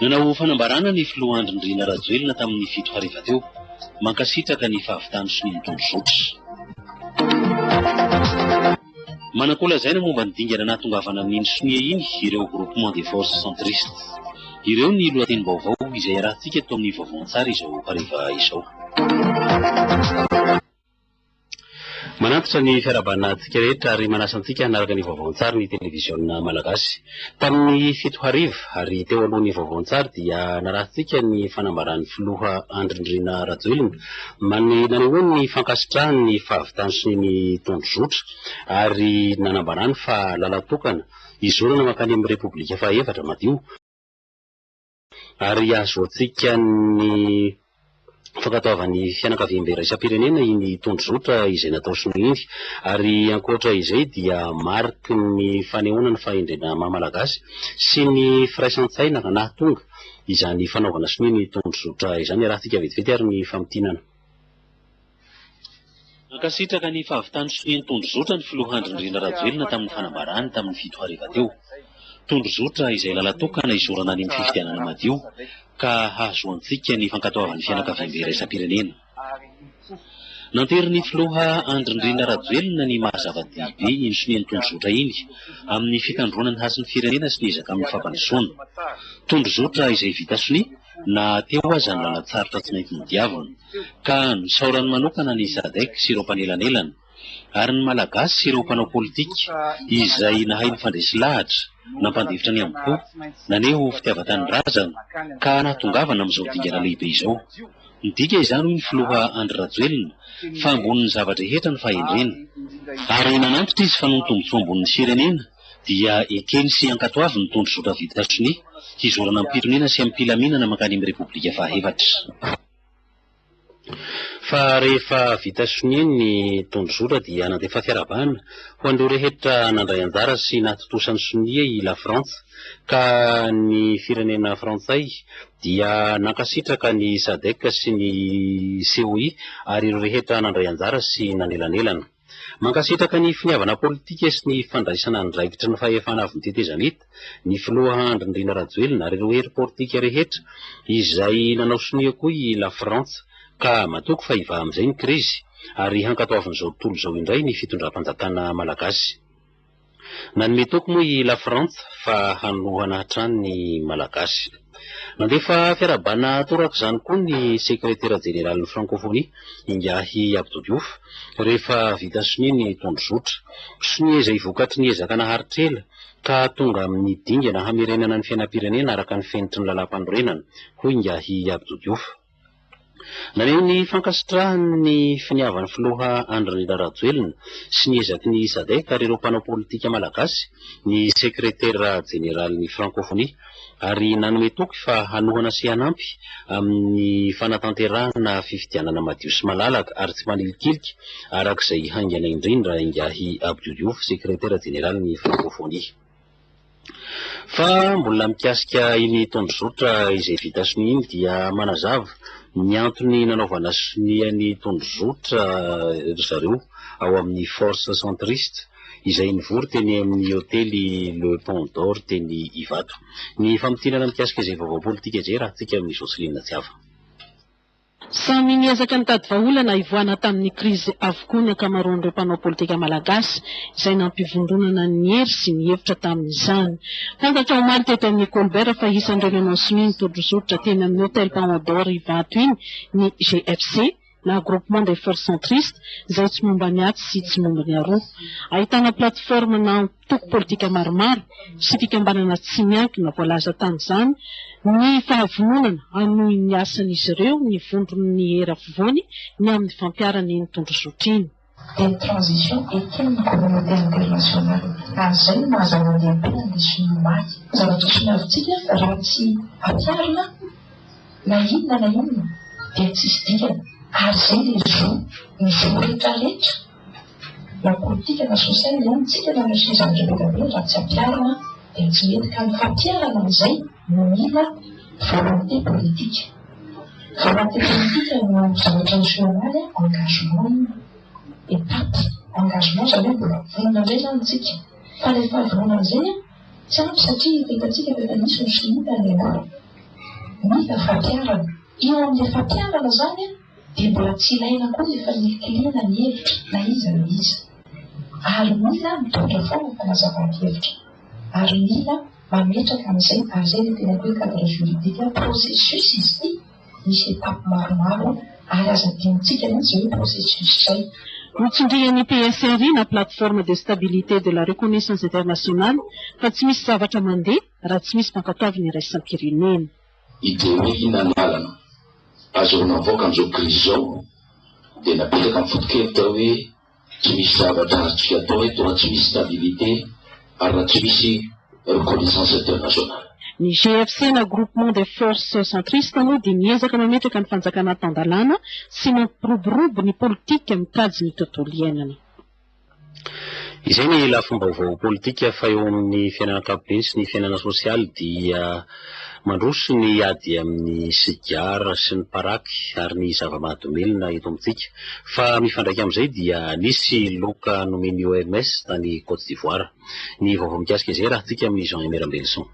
Nanao fanambarana ny filoha Andry Nirina Rajoelina tamin'ny fito hariva teo. Mankasitraka ny fahavitany sonia nitondrozotra. Manan-ko lazaina momba ny dingana nahatongavana amin'iny sonia iny ireo Groupement des Forces Centristes. Ireo ny lohatenim-baovao izay iarahantsika eto amin'ny vaovao an-tsary izao hariva izao. Manantitra ny fiarahabana antsika rehetra ary manasa antsika hanaraka ny vaovao an-tsary ny televiziona malagasy. Tamin'ny fito hariva ary teo alohan'ny vaovao an-tsary dia narahintsika ny fanambaran'ny filoha Andry Nirina Rajoelina mani- nanehoany ny fankasitrahany ny fahavitany sy ny tondrozotra ary nanambarany fa lalan-tokana hizorana mankany amin'ny Repoblika fahaefatra madio Ary ahazoantsika ny fankatoavan'ny fianakaviambe iraisam-pirenena iny tondrozotra izay natao Shinoa iny. Ary ankoatra izay dia mariky ny fanehoana ny fahendrena maha Malagasy sy ny firaisan-tsaina ka nahatonga izany fanaovana sonia ny tondrozotra izany. Arahintsika vetivety ary ny famintinana. Nankasitraka ny fahavitan'ny sonia tondrozotra ny filoha Andry Nirina Rajoelina tamin'ny fanambarany tamin'ny fito hariva teo. Tondrozotra izay lalan-tokana hizorana ny amin'ny fifidianana madio ka hahazoantsika ny fankatoavan'ny fianakaviambe iraisam-pirenena. Nanterin'ny filoha Andry Nirina Rajoelina ny maha zava-dehibe iny sonia tondrozotra iny amin'ny fitandroana ny hasin'ny firenena sy ny ezaka amin'ny fampandrosoana. Tondrozotra izay vita sonia. na teo aza ny lalan-tsarotra tsy maintsy nodiaviny. Ka nosaorany manokana ny Sadec sy ireo mpanelanelana, ary ny Malagasy sy ireo mpanao politika izay nahay nifandresy lahatra, nampandefitra ny amim-po, naneho fitiavan-tanindrazana, ka nahatongavana amin'izao dingana lehibe izao. Midika izany, hoy ny filoha Andry Rajoelina, fa ambonin'ny zava-drehetra ny fahendrena. Ary nanantitra izy fa noho ny tombontsoa ambonin'ny firenena, dia ekeny sy ankatoaviny ny tondrozotra vita sonia, hizorana amim-pitoniana sy amim-pilaminana mankany amin'ny Repoblika fahaefatra. Fa rehefa vita sonia ny tondrozotra dia nandefa fiarahabana ho an'ireo rehetra nandray anjara sy nahatontosa ny sonia i Lafrantsa, ka ny firenena frantsay dia nankasitraka ny Sadec sy ny COI ary ireo rehetra nandray anjara sy nanelanelana. Mankasitraka ny finiavana politika sy ny fandraisana andraikitry ny fahefana avy ny tetezamita, ny filoha Andry Nirina Rajoelina ary ireo hery politika rehetra izay nanao sonia koa i Lafrantsa ka matoky fa hivaha amin'izay ny krizy ary hankatoavin'izao tontolo izao indray ny fitondram-panjakana malagasy. Nanome toky moa i Lafrantsa fa hanohana hatrany ny Malagasy. Nandefa fiarahabana toraka izany koa ny Sekretera Jeneralin'ny Frankofonia, Ingahy Abdou Diouf, rehefa vita sonia ny tondrozotra. Sonia izay vokatry ny ezaka naharitra ela ka tonga amin'ny dingana hamerenana ny fiainam-pirenena araka ny fenitry ny Lalàmpanorenana, hoy Ingahy Abdou Diouf. Naneho ny fankasitrahany ny finiavan'ny filoha Andry Nirina Rajoelina sy ny ezaky ny Sadec ary ireo mpanao politika malagasy ny sekretera jeneralin'ny Frankofonia ary nanome toky fa hanohana sy hanampy amin'ny fanatanterahana fifidianana madio sy malalaka ary tsy manilikilika araka izay haingana indrindra Ingahy Abdou Diouf, sekretera jeneralin'ny Frankofonia. Fa mbola mikasika iny tondrozotra izay vita sonia iny dia manazava ny antony nanaovana sonia ny tondrozotra ry zareo ao amin'ny Force Centriste izay nivory teny amin'ny hotely Le Pont d'Or teny Ivato. Ny famintinana mikasika izay vaovao politika izay raha antsika amin'i Jocelyne Tsiava. Samy niezaka nitady vahaolana hivoahana tamin'ny krizy avokoa ny ankamaroan'ireo mpanao politika malagasy izay nampivondronana ny hery sy ny hevitra tamin'izany. Fantatra omaly teto amin'ny Colbert fa isan'ireo nanao sonia nitodrozotra teny amin'ny Hotel Paon d'Or Ivato iny ny GFC na Groupement des Forces Centristes izay tsy momba ny atsy sy tsy momba ny aroa. Ahitana plateforme nao. mpitoko politika maromaro sy fikambanana tsy miankina voalaza tamin'izany ny fahavononana hanohy ny asan'izy ireo ny vondron'ny Hery Afovoany ny amin'ny fampiharana iny tondrozotra iny. Dia ny transition eken'ny communauté internationale. Ary izay no maha zava-dehibe ny leson'ny omaly. Zavatra soravintsika raha tsy ampiharina na inona na inona dia tsisy dikany. Ary izay dia zo ny zo rehetra rehetra. Na politika na sosialy izany ny tsika na misy izany rehetra izany raha tsy ampiharina dia tsy mety ka ny fampiharana an'izay no mila volonté politique. Volonté politique no zavatra miseho omaly a, engagement iny, étape, engagement izany hoe mbola vonona indray izany ny tsika. Fa ilay fahavononana izay a, tsy ampy satria efa hitantsika fa efa nisy ny solitany aloha. Mila fampiharana. Eo amin'ilay fampiharana izany a, dia mbola tsy ilaina koa ny efa nikiliana ny hevitra na iza na iza. Ary mila mitondra foana ny fanazavàn-kevitra. Ary mila mametraka an'izay, ary izay ilay teneniko hoe cadre juridique, processus izy ity, misy étapes maromaro, ary aza adinontsika mihitsy izay hoe processus izay. Notsindrian'ny PSRI na Plateforme de Stabilité de la Reconnaissance Internationale fa tsy misy zavatra mandeha raha tsy misy mpankatoavin'ny iraisam-pirenena. I Dewey na ny Lalana. Azy ireo navoaka amin'izao krizy izao dia napetraka ny fotokely tao hoe tsy misy zavatra azontsika atao eto raha tsy misy stabilité ary raha tsy misy reconnaissance internationale. Ny GFC na Groupement des Forces Centristes moa dia miezaka mametraka ny fanjakana tan-dalàna sy mampiroborobo ny politika mikajy ny tontolo iainana. Izay ny lafim-baovao politika fa eo amin'ny fiainana ankapobeny sy ny fiainana sosialy dia mandroso ny ady amin'ny sigara sy ny paraky ary ny zava-mahadomelina eto amintsika fa mifandraika amin'izay dia nisy loka nomen'ny OMS tany Côte d'Ivoire. Ny vaovao mikasika izay raha-tsika amin'i Jean Aimé Rambelison.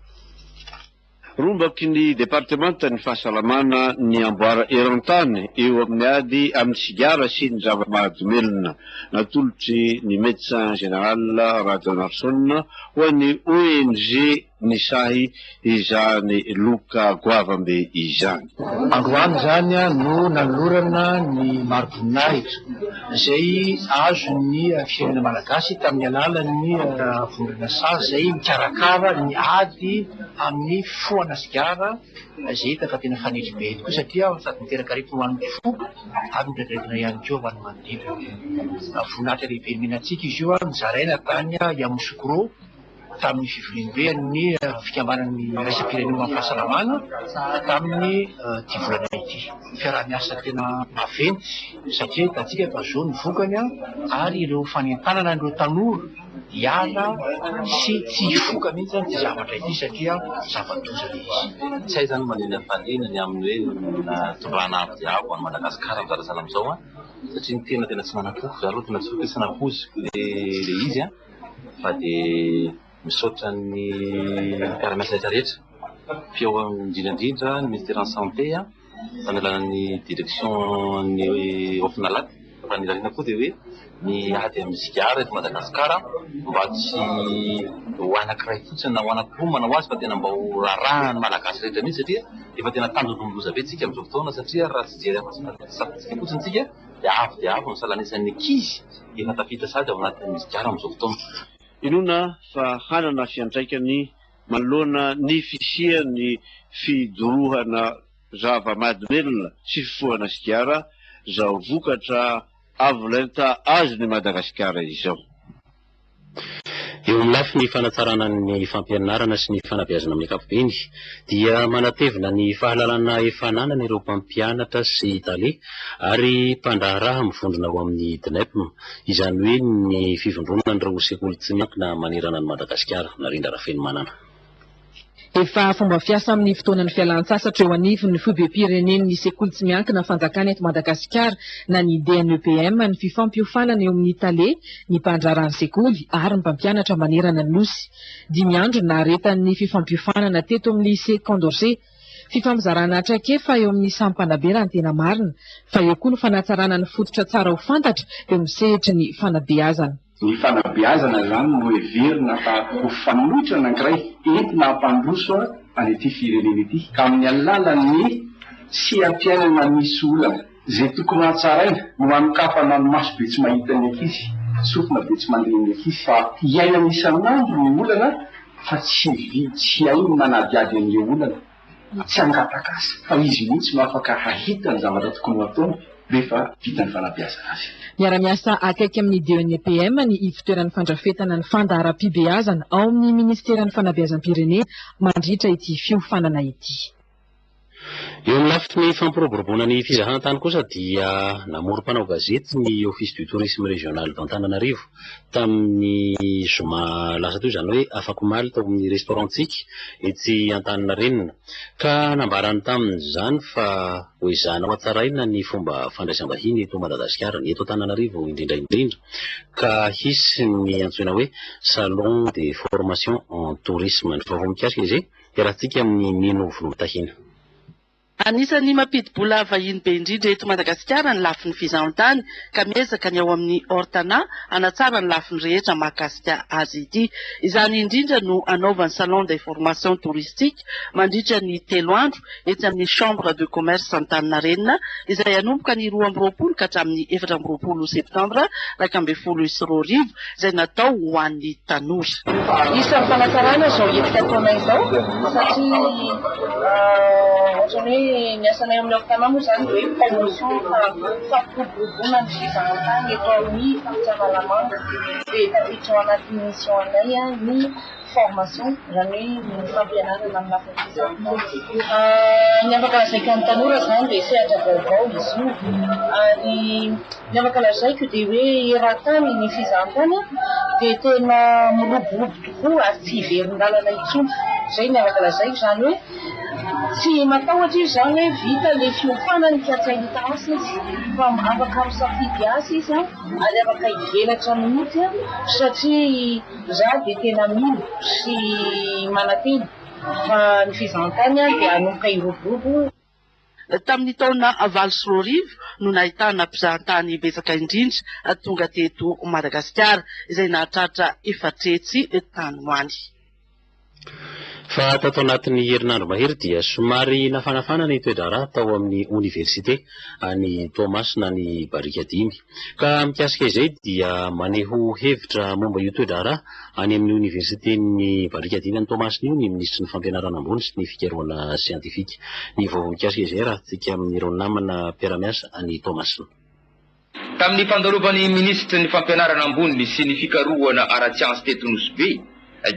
Rombaky ny departemantan'ny fahasalamana ny amboara eran-tany eo amin'ny ady amin'ny sigara sy ny zava-mahadomelina. Natolotry ny Médecin Général Rajaonarison ho an'ny ONG Nisahy izany loka goavambe izany. Androany izany no nanolorana ny mari-boninahitra izay azon'ny firenena malagasy tamin'ny alalan'ny vondrona sazy izay mikarakara ny ady amin'ny foana sigara izay hita fa tena fanetry be tokoa satria sady miteraka aretina ho an'ny fo ary mirediredy ihany koa ho an'ny manodidina. Voninahitra lehibe nomena antsika izy io nozaraina tany Yamoussoukro. tamin'ny fivoriambe an'ny fikambanan'ny iraisam-pirenena ho an'ny fahasalamana tamin'ny ity volana ity. Fiaraha-miasa tena maventy satria hitantsika fa izao ny vokany ary ireo fanentanana an'ireo tanora hiala sy tsy hifoka mihitsy ity zavatra ity satria zava-doza ilay izy. Tsy hay izany maninona ny fandriana ny amin'ny hoe nahatondrahana avo dia avo an'i Madagasikara amin'izao resaha amin'izao satria ny tena tena tsy manan-po, izaho aloha tena tsy ho tia tsy nahoziko ilay izy. fa dia misaotra ny mpiara-miasa rehetra rehetra, teo indrindra indrindra ny Ministeran'ny Santé manoloana ny Direction-n'ny Ofinalac, fa ny lalina koa dia hoe ny ady amin'ny sigara eto Madagasikara mba tsy ho anankiray fotsiny na ho anankiroa manao azy fa tena mba ho rarahan'ny Malagasy rehetra mihintsy satria efa tena tandindomin-doza be isika amin'izao fotoana satria raha tsy hijery afa-tsy ny fahafatesana fotsiny isika. dia avo dia avo ny salanesan'ny ankizy efa tafita sady ao anatin'ny sigara amin'izao fotoana. Inoana fa hanana fiantraikany manoloana ny fisian'ny fidorohana zava-mahadomelina sy fifohana sigara izao vokatra avo lenta azon'i Madagasikara izao. Eo amin'ny lafiny fanatsarana ny fampianarana sy ny fanabeazana amin'ny ankapobeny dia manatevina ny fahalalana efa ananany ireo mpampianatra sy tale ary mpandraharaha mivondrona ao amin'ny DNEPM, izany hoe ny Fivondronan'ireo Sekoly Tsy Miankina manerana an'i Madagasikara, Narendra Rafenomanana. Efa fomba fiasa amin'ny fotoanan'ny fialan-tsasatra eo anivon'ny foibem-pirenen'ny sekoly tsy miankina fanjakana eto Madagasikara na ny DNEPM ny fifampiofanana eo amin'ny tale, ny mpandraharaha ny sekoly ary ny mpampianatra manerana ny Nosy. Dimy andro no naharetan'ny fifampiofanana teto amin'ny Lycée Condorcet. Fifampizarana traikefa eo amin'ny samy mpanabera ny tena marina fa eo koa ny fanatsarana ny fototra tsara ho fantatra eo amin'ny sehatry ny fanabeazana. Ny fanabeazana izany no heverina fa ho fanoitra anankiray entina hampandroso an'ity firenena ity ka amin'ny alalan'ny seha-piainana misy olana izay tokony hatsaraina no hanokafana ny maso be tsy mahita ny ankizy, sofina be tsy mandre ny ankizy fa iainana isan'andro ny olana fa tsy vitsy haino manadihady an'ireo olana. na tsy hangataka aza fa izy mihitsy no afaka hahita ny zavatra tokony ho ataony rehefa vita ny fanabeazana azy. Miara-miasa akaiky amin'ny DENPM ny Ivotoeran'ny fandrafetana ny fandaharam-pibeazana ao amin'ny Minisiteran'ny Fanabeazam-pirenena mandritra ity fiofanana ity. Eo amin'ny lafiny fampiroboroboana ny fizahantany kosa dia namory mpanao gazety ny Office du Tourisme Régional d'Antananarivo tamin'ny zoma lasa teo, izany hoe afak'omaly tao amin'ny restaurant-ntsika etsy Antaninarenina ka nambarany tamin'izany fa hoezahina hohatsaraina ny fomba fandraisam-bahiny eto Madagasikara, ny eto Antananarivo indrindra indrindra ka hisy ny antsoina hoe salon de formation en tourisme. Ny vaovao mikasika izay iarahantsika amin'i Mino Volomitahiana. Anisan'ny mampidi-bola vahiny be indrindra eto Madagasikara ny lafiny fizahan-tany ka miezaka ny ao amin'ny Ortana hanatsara ny lafiny rehetra mahakasika azy ity. Izany indrindra no hanaovany salon d'information touristique mandritra ny telo andro etsy amin'ny Chambre de Commerce Antaninarenina izay hanomboka ny roa amby roapolo ka hatramin'ny efatra amby roapolo septambra iraika ambin'ny folo sy roa arivo izay natao ho an'ny tanora. Isan'ny fanatsarana izao hetsika ataonay izao satria ohatran'ny hoe ny asanay ao amin'ny Ortana moa izany dia hoe promotion fampiroboroboana ny fizahantany eto amin'ny faritra Analamanga dia tafiditra ao anatin'ny mission anay ny formation zany hoe fampianarana amin'ny lafiny fizahan-tany. Ny afaka lazaiko amin'ny tanora izany dia sehatra vaovao izy io ary ny afaka lazaiko dia hoe eran-tany ny fizahan-tany dia tena miroborobo tokoa ary tsy hiverin-dalana intsony. Izay ny afaka lazaiko izany hoe tsy matahotra izy izany hoe vita ilay fiofanany ka tsy hahita asa izy fa afaka misafidy asa izy ary afaka hivelatra mihitsy satria Izaho dia tena mino sy manantena fa ny fizahantany dia hanomboka hiroborobo. Tamin'ny taona valo sy roa arivo no nahitana mpizahantany betsaka indrindra tonga teto Madagasikara, izay nahatratra efatretsy tany ho any. Fa tato anatin'ny herinandro mahery dia somary nafanafana ny toe-draharaha tao amin'ny oniversite any Toamasina ny barika dimy. Ka mikasika izay dia maneho hevitra momba io toe-draharaha any amin'ny oniversiten'ny barika dimy any Toamasina io ny minisitry ny fampianarana ambony sy ny fikarohana siantifika. Ny vaovao mikasika izay arahintsika amin'ireo namana mpiara-miasa any Toamasina. Tamin'ny fandalovan'ny minisitry ny Fampianarana ambony sy ny fikarohana ara-tsiansa teto Nosy Be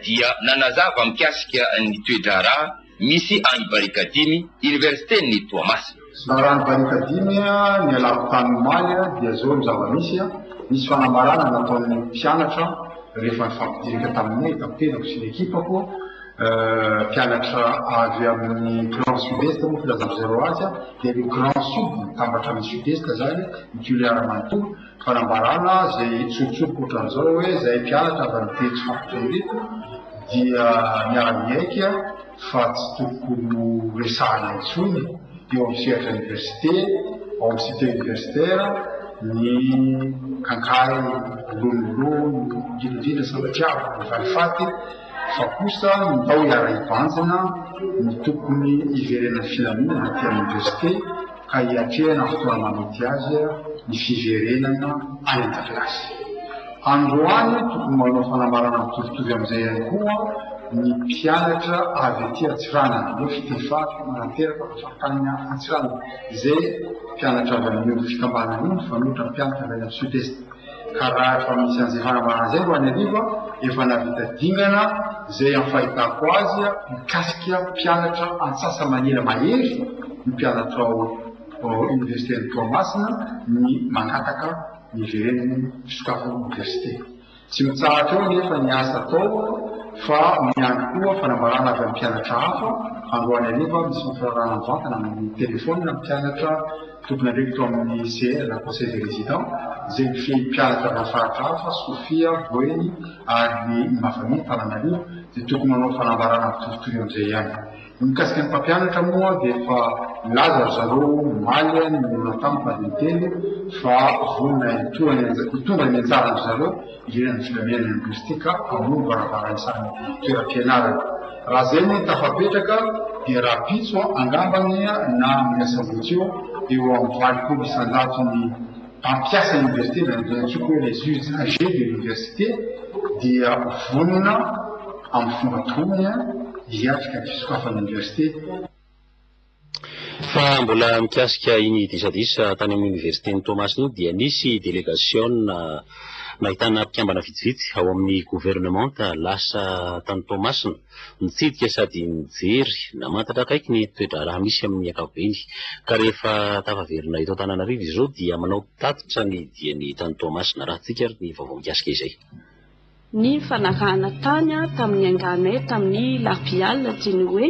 dia nanazava mikasika ny toe-draharaha misy any Barikadimy, Oniversiten'i Toamasina. Laharan'i Barikadimy, ny alaham-pitany omaly dia izao ny zava-misy, nisy fanambarana nataon'ny mpianatra rehefa nifampidirika taminay, tapenako sy ny ekipako. mpianatra avy amin'ny grand sud-est moa filazako zay ro azy dia ny grand sud mitambatra amin'ny sud-est zany ny toliara manontolo fanambarana zay tsorotsoroka ohatran'izao hoe zay mpianatra avy amin'ny telo faritra ireto dia miara-miaiky fa tsy tokony ho resahana intsony eo amin'ny sehatra université ao amin'ny site universitaire ny kankahy lolololo indrindra indrindra sambatiavy ny valifaty fa kosa ny mba ho iara-hibanjina no tokony hiverenan'ny filaminana aty amin'ny Université ka hiatrehana fotoana manety azy ny fiverenana any an-dakilasy. Androany tokony manao fanambarana mitovitovy amin'izay ihany koa ny mpianatra avy aty Antsiranana, aleo Fitefa no manateraka fa faritany Antsiranana, izay mpianatra avy amin'io fikambanana io mifanohitra amin'ny mpianatra avy any amin'ny Sud-Est. ka raha efa misy an'izay fanambarana izay ro any an'rivo efa nahavita dingana izay amin'ny fahitako azy mikasika mpianatra antsasa-manila mahery ny mpianatra ao oniversiten'i Toamasina ny mangataka ny hiverenan'ny fisokafan'ny oniversite. Tsy mitsahatra eo anefa ny asa atao fa miandry koa fanambarana avy amin'ny mpianatra hafa androany hariva misy fanfirarahana mivantana amin'ny telefaonina ny mpianatra Tompon'andraikitra tao amin'ny CR na Conseil des Résidents, izay mifehy mpianatra avy amin'ny faritra hafa, Sofia, Boeny ary ny Imafami, Tananarivo, dia tokony manao fanambarana mitovitovy amin'izay ihany. Ny mikasika ny mpampianatra moa dia efa nilaza ry zareo omaly ny mionan-tamiko na dia intelo fa vonona hitondra ny anjaran-dry zareo, Eny, ny filaminana lingwistika hamono varavarantsany toeram-pianarana. Raha izay moa no tafapetraka dia rahampitso angamba anie na amin'ny asabotsy eo, eo amin'ny valopolo isanjato ny mpampiasa iniversite, na dia antsoiko hoe les usagers de l'université, dia vonona amin'ny fomba ataony hiatrika ny fisokafan'ny iniversite. Fa mbola mikasika iny disadisa tany amin'ny oniversiten'i Toamasina iny dia nisy delegasiona nahitana mpikambana vitsivitsy ao amin'ny governemanta lasa tany Toamasina nitsidika sady nijery namantatra akaiky ny toe-draharaha misy amin'ny ankapobeny ka rehefa tafaverina eto Antananarivo izy ireo dia manao tatitra ny diany tany Toamasina. Arahintsika ary ny vaovao mikasika izay. ny fanarahana tany tamin'ny angahanay tamin'ny Labiala dia ny hoe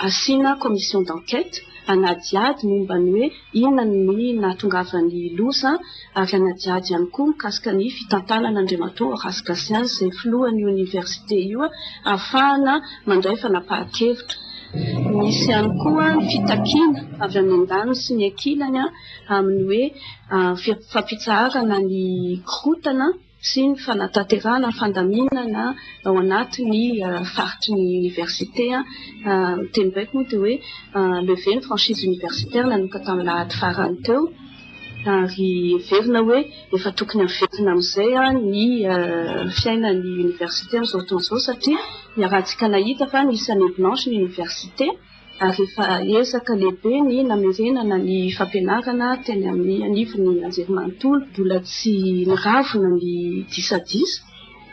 asiana commission d'enquête hanadihady momba ny hoe inona ny nahatongavan'ny loza ary hanadihady ihany koa mikasika ny fitantanana Andriamatoa Horace Gatien izay filohan'io oniversite io hahafahana mandray fanapahan-kevitra. Nisy ihany koa ny fitakiana avy amin'ny andaniny sy ny ankilany. amin'ny hoe fampitsaharana ny korontana sy ny fanatanterahana fandaminana ao anatin'ny faritry ny Oniversite. Ny teny baiko moa dia hoe lever ny franchise universitaire nanomboka tamin'ny alahady farany teo ary heverina hoe efa tokony haverina amin'izay ny fiainan'ny Oniversite amin'izao fotoana izao satria ny arahantsika nahita fa nisy année blanche ny Oniversite. ary efa ezaka lehibe ny namerenana ny fampianarana teny amin'ny anivon'ny anjerimanontolo, mbola tsy niravona ny disadisa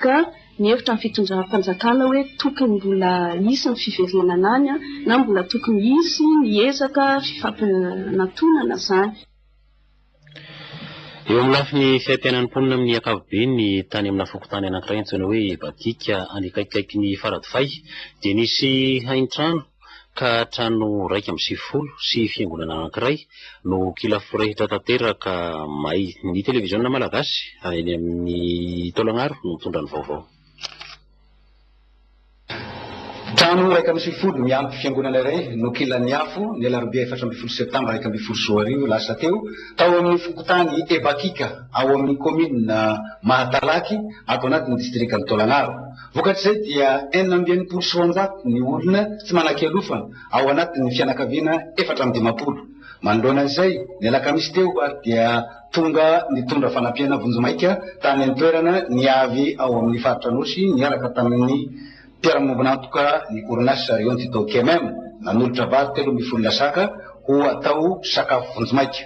ka mihevitra ny fitondram-panjakana hoe tokony mbola hisy ny fiverenana any na mbola tokony hisy ny ezaka fifampianantonana izany. Eo amin'ny lafiny fiaimpiainan'ny mponina amin'ny ankapobeny ny tany amina fokontany anankiray antsoina hoe Batika any akaikikaikin'i Faradofay dia nisy haintrano ka trano iraika amby sivifolo sy fiangonana anankiray no kila forehitra tanteraka may. Ny televiziona malagasy eny amin'ny taolagnaro no nitondra ny vaovao. Trano iraika amby sivifolo miampy fiangonana iray no kilan'ny afo, ny alarobia efatra ambin'ny folo septambra iraika ambin'ny folo sy roa arivo lasa teo, tao amin'ny fokontany Ebakika, ao amin'ny kaominina Mahatalaky, ato anatin'ny distrikan'i Taolagnaro. Vokatr'izay dia enina amby enimpolo sy roanjato ny olona tsy manan-kialofana, ao anatin'ny fianakaviana efatra amby dimampolo. Manoloana an'izay, ny alakamisy teo ary dia. Tonga nitondra fanampiana vonjimaika tany an-toerana ny avy ao amin'ny faritra Anosy niaraka tamin'ny mpiara-miombon'antoka ny orinasa Rion Tuto KMM. Nanolotra vary telo ambin'ny folo lasaka ho atao sakafo vonjimaika.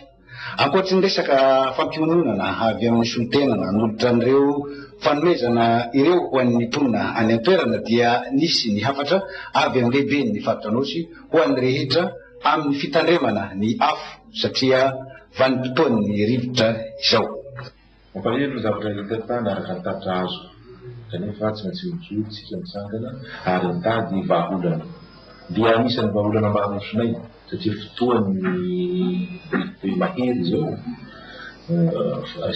Ankoatry ny resaka fampiononana avy amin'ny solontena nanolotra an'ireo fanomezana ireo ho an'ny mponina any an-toerana dia nisy ny hafatra avy amin'ny lehiben'ny faritra Anosy ho an'ny rehetra amin'ny fitandremana ny afo satria vanim-potoan'ny rivotra izao. Mampalahelo ny zavatra hita tany araka ny tatitra azoko, kanefa tsy maintsy mijoro isika mitsangana ary mitady vahaolana. Dia anisan'ny vahaolana mba harosonay, satria fotoan'ny rivodobe mahery izao,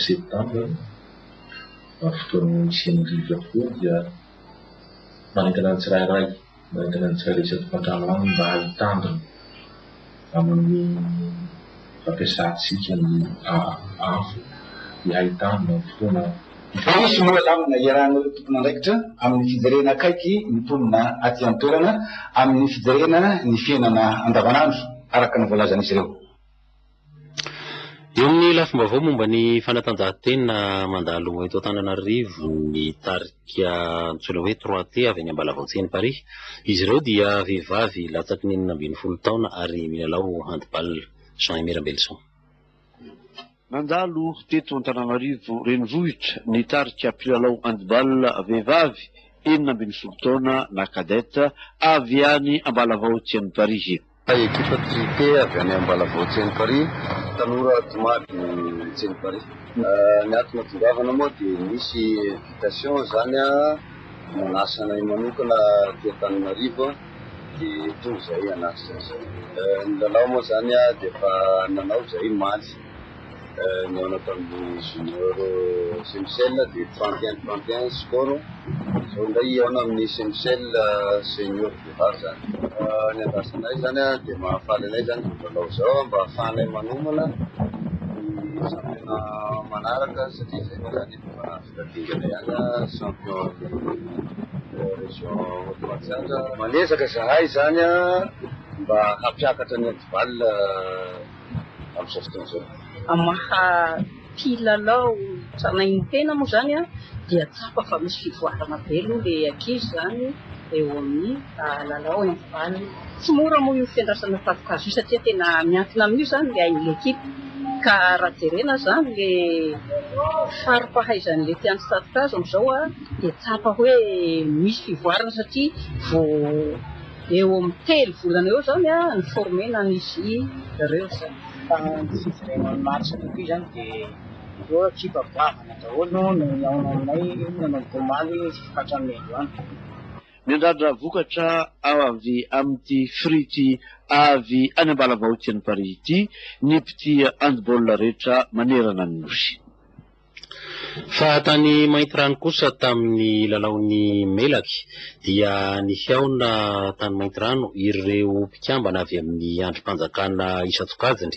septambra, fotoan'ny hisian'ny rivotra tokoa dia manentana ny tsirairay. Manentana ny tsirairay isaky ny mpandrama aminy mba hahitandrina amin'ny fampiasantsika ny afo dia hahitandrina ny fotoana Tsy hisy moa lamina iarahan'ireo tompon'andraikitra amin'ny fijerena akaiky ny mponina aty an-toerana amin'ny fijerena ny fiainana andavanandro, araka ny voalazan'izy ireo. Eo amin'ny lafim-baovao momba ny fanatanjahantena mandalo eto Antananarivo ny tarika antsoina hoe Trois T avy any Ambalavao Tseny Paris. Izy ireo dia vehivavy latsaky ny enina ambin'ny folo taona ary milalao handball. Jean Aimé Rambelison. Nandalo teto Antananarivo renivohitra ny tarika mpilalao handball vehivavy enina ambin'ny folo taona na cadette avy any Ambalavao Tseny Paris. Ilay ekipa Trippé avy any Ambalavao Tsenoparia, tanora tomady Tsenoparia. Ny antony tongavana moa dia nisy invitation izany nanasa anay manokana aty Antananarivo dia tonga izahay hanatrika an'izay. Ny lalao moa izany dia efa nanao izahay omaly. Nihaona tamin'ny junior Semcel dia trente et un trente et un ny score. Izao indray hihaona amin'ny Semcel senior Boulevard izany. Ny andrasanay izany dia mahafaly anay izany izao lalao izao mba ahafahanay manomana ny championnat manaraka satria izay moa izany efa vita dingana ihany champion ny région Haute Matsiatra. Manezaka izahay izany mba hampiakatra ny handball. amin'izao fotoana izao. Amin'ny maha mpilalao tranainy-tena moa izany dia tsapa fa misy fivoarana be aloha ilay ankizy izany eo amin'ny lalao handball. Tsy mora moa io fiandrasana tafon-kazo io satria tena miankina amin'io izany ilay ain'ilay ekipa ka raha jerena izany ilay fari-pahaizan'ilay mpiandry tafon-kazo amin'izao dia tsapa hoe misy fivoarana satria vao Eo amin'ny telo volana eo izao ny ni-former-na an'izy ireo izay. Fa ny fijerena ny match kokoa izany dia ireo ekipa goavana daholo no nihaona aminay nanomboka omaly hatramin'ny androany. Miandrandra vokatra avy amin'ity frity avy any Ambalavahoaka any Paris ity ny mpitia handball rehetra manerana ny Nosy. Fa tany Maintirano kosa tamin'ny lalaon'ny Melaky dia nihaona tany Maintirano ireo mpikambana avy amin'ny andrim-panjakana isan-tsokajiny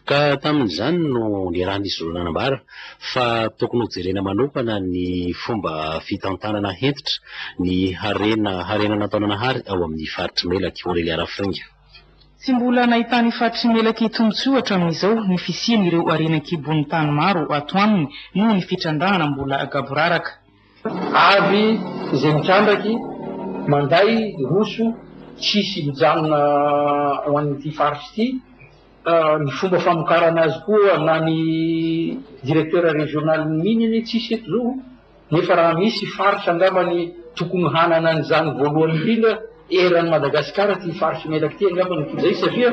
ka tamin'izany no niarahan'izy roa nanambara fa tokony hojerena manokana ny fomba fitantanana hentitra ny harena harena nataon'Anahary ao amin'ny faritr'i Melaky, Aurelia Rafinga. Tsy mbola nahitan'ny faritry ny melaky tombontsoa hatramin'izao ny fisian'ireo harena an-kibon'ny tany maro ato aminy noho ny fitrandrahana mbola gaboraraka. Avy izay mitrandraky manday roso tsisy mijanona ho an'ity faritra ity. Ny fomba famokarana azy koa na ny directeur régional ny mines anie tsisy eto izao. Nefa raha misy faritra angambany tokony hanana an'izany voalohany indrindra eran'i Madagasikara ity faritry Melaky ity angamba no toy izay satria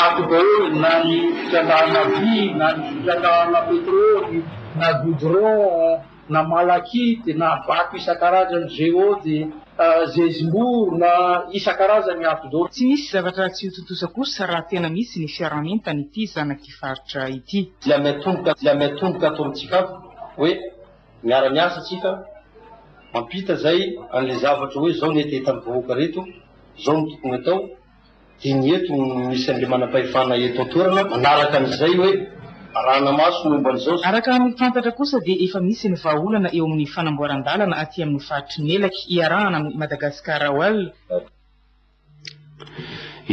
ato daholo na ny fitrandrahana vy na ny fitrandrahana petrôly na goudron na malachite na vato isan-karazany géode zezimbory na isan-karazany ato daholo. Tsy misy zavatra tsy ho tontosa kosa raha tena misy ny fiaraha-mientana ity zanak'ity faritra ity. Dia miatomboka dia miatomboka ato amintsika ato. hoe miara miasa tsika mampita zay anle zavatra hoe zao ny etetan vahoaka reto zao no tokony atao de ny eto no misy anle manampahefana eto antoerana manaraka anizay hoe arahana maso ny momba anizao sy Araka ny fantatra kosa dia efa misy ny vahaolana eo amin'ny fanamboaran-dalana aty amin'ny faritry Melaky iarahana amin'ny Madagascar Oil,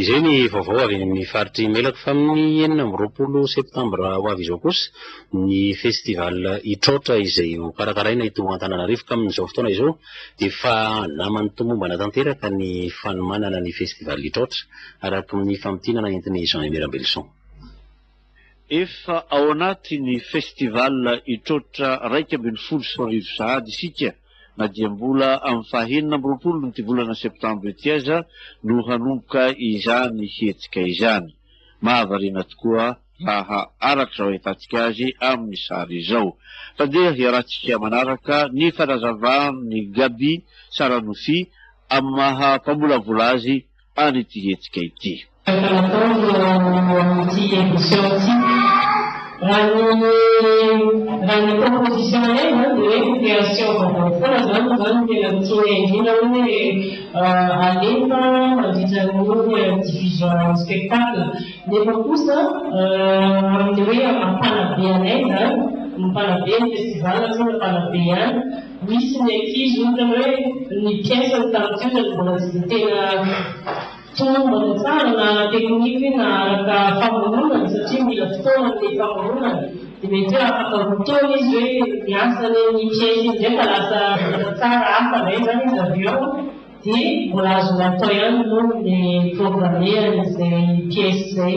Izay ny vaovao avy eny amin'ny faritr'i Imelako fa amin'ny enina amby roapolo septambra ho avy izao kosa ny festival Itraotra izay ho karakaraina eto Antananarivo ka amin'izao fotoana izao dia efa naman'ny tomombana tanteraka ny fanomanana ny festival Itraotra araka ny famintinana entin'i Jean Aimé Rabelison. Efa ao anatin'ny Festival Itroatra iraika ambin'ny folo sy roa arivo sahady isika na dia mbola amin'ny fahenina amby roapolon'ity volana septambra ity aza no hanomboka izany hetsika izany. Mahavariana tokoa raha araka izao ahitantsika azy amin'ny sary izao. Mpandeha iarahantsika manaraka ny fanazavan'i Gaby Saranofy amin'ny maha mpamolavola azy ary ity hetsika ity. Efa natao ireo amin'ity edition ity. Raha ny raha ny proposition indray izany dia hoe ny création vaovao foana izany no zany no tena tiana indrindra hoe alefa mandritra an'io diffusion spectacle nefa kosa amin'ny hoe mpanabe anay izany ny mpanabe ny festival tsy hoe mpanabe ihany Misy ny ankizy ohatra hoe ny mpiasa ny tany toerana mbola tsy dia tena tomombana tsara na ara-teknika na araka famoronana satria mila fotoana ny famoronana dia mety hoe afaka roa taona izy hoe miasa any amin'ny mpiasa iny indray ka lasa vita tsara hafa indray izany izy avy eo dia mbola azonao atao ihany moa ny mi-programmer an'izay mpiasa izay.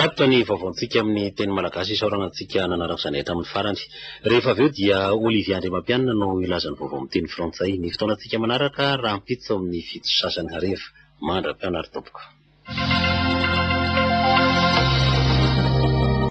Tatitra ny vaovaontsika amin'ny teny malagasy isaorana antsika nanaraka izany hatramin'ny farany. Rehefa avy eo dia Olivier Andriamampianina no hilaza ny vaovao amin'ny teny frantsay. Ny fotoanantsika manaraka rahampitso amin'ny fito sy sasany hariva. Mandra-pianary tompoko.